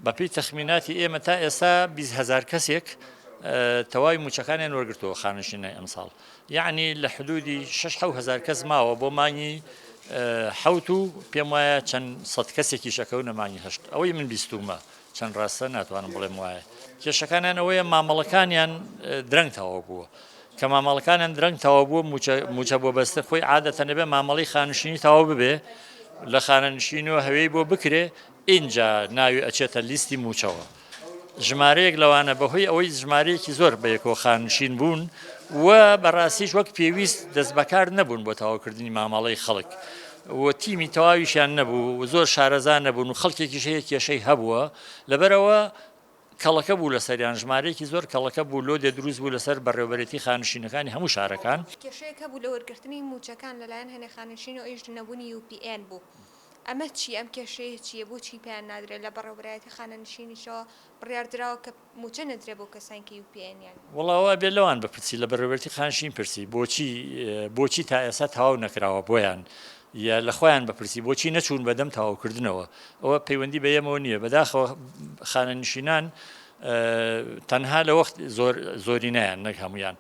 بەپێی تەخمیناتی ئێمە تا ئێستا بیست هەزار کەسێک تەواوی موچەکانیان وەرگرتەوە خانشینای ئەمساڵ یعنی لە حدودی 6 هزار کەس ماوە بۆ مانگی حوت و پێم وایە چەند سەد کەسێکی شەکەو نەمانی هەشت ئەوەی من بیستومە چەند ڕاستە ناتوانم بڵێم وایە کێشەکانیان ئەوەیە مامەڵەکانیان درەنگ تەواو بووە کە مامەڵەکانیان درەنگ تەواو بووە موچە بۆ بەستە خۆی عادەتە نەبێ مامەڵی خانشینی تەواو ببێ لە خانەنشینەوە هەوێی بۆ بکرێ ئینجا ناوی ئەچێتە لیستی مووچەوە. ژمارەیەک لەوانە بەهۆی ئەوەی ژمارەیەکی زۆر بەیەکەوە خانشین بوون و بەڕاستیش وەک پێویست دەست بەکار نەبوون بۆ تەواوکردنی مامەڵەی خەڵک و تیمی تەواویشیان نەبوو و زۆر شارەزا نەبوون و خەڵکێکیش هەیە کێشەی هەبووە لەبەرەوە کەڵەکە بوو لەسەریان ژمارەیەکی زۆر کەڵەکە بوو لۆدێ دروست بوو لەسەر بەڕێوەبەرێتی خانشینەکانی هەموو شارەکان. کێشەیەک هەبوو لە وەرگرتنی مووچەکان لەلایەن هەنێ خانشین و ئەویش نەبوونی یو پی ئێن بوو. ئەمە چییە؟ ئەم کێشەیە چییە؟ بۆچی پێیان نادرێت؟ لە بەڕێوەبەرایەتی خانەنشینیشەوە بڕیار دراوە کە مووچە نەدرێت بۆ کەسانی کە UPNیان. وەڵا ئەوە ئەبێت لەوان بپرسی، لە بەڕێوەبەرەتی خانەنشین پرسی بۆچی بۆچی تا ئێستا تەواو نەکراوە بۆیان؟ یا لە خۆیان بپرسی بۆچی نەچوون بە دەم تەواوکردنەوە؟ ئەوە پەیوەندی بە ئێمەوە نییە، بەداخەوە خانەنشینان تەنها لە وەخت زۆر زۆرینەیان نەک هەموویان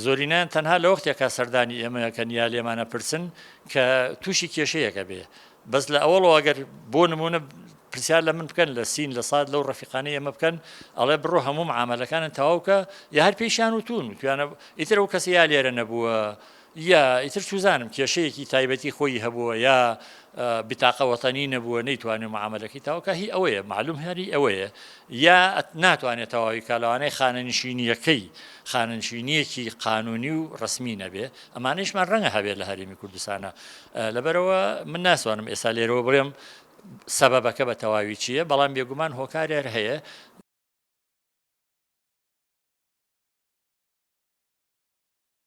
زۆرینەیان تەنها لەوەختێکا سەردانی ئێمەکەن یا لێمانە پرسن کە تووشی کێشەیەکە بێ بەس لە ئەوەڵەوە گەر بۆ نمونە پرسیار لە من بکەن لە سین لە سات لەو ڕفیقانی ئێمە بکەن ئەڵێ بڕۆ هەموو عملەکانن تەواوکە یا هەر پێیشان و تون توانە ئیتر ئەو کەسی یا لێرە نەبووە یا ئیتر چوزانم کێشەیەکی تایبەتی خۆی هەبووە یا بتاقە وەتەنی نەبووە نەیتوانێ معاملەکەی تاوکە هی ئەوەیە معلوم هەری ئەوەیە یا ناتوانێت تەواوی بکات لەوانەیە خانەنشینییەکەی خانەنشینییەکی قانونی و ڕسمی نەبێ ئەمانەیشمان ڕەنگە هەبێت لە هەرێمی کوردستانە لەبەرەوە من ناسوانم ئێستا لێرەوە بڵێم سەبەبەکە بە تەواوی چییە بەڵام بێگومان هۆکارێر هەیە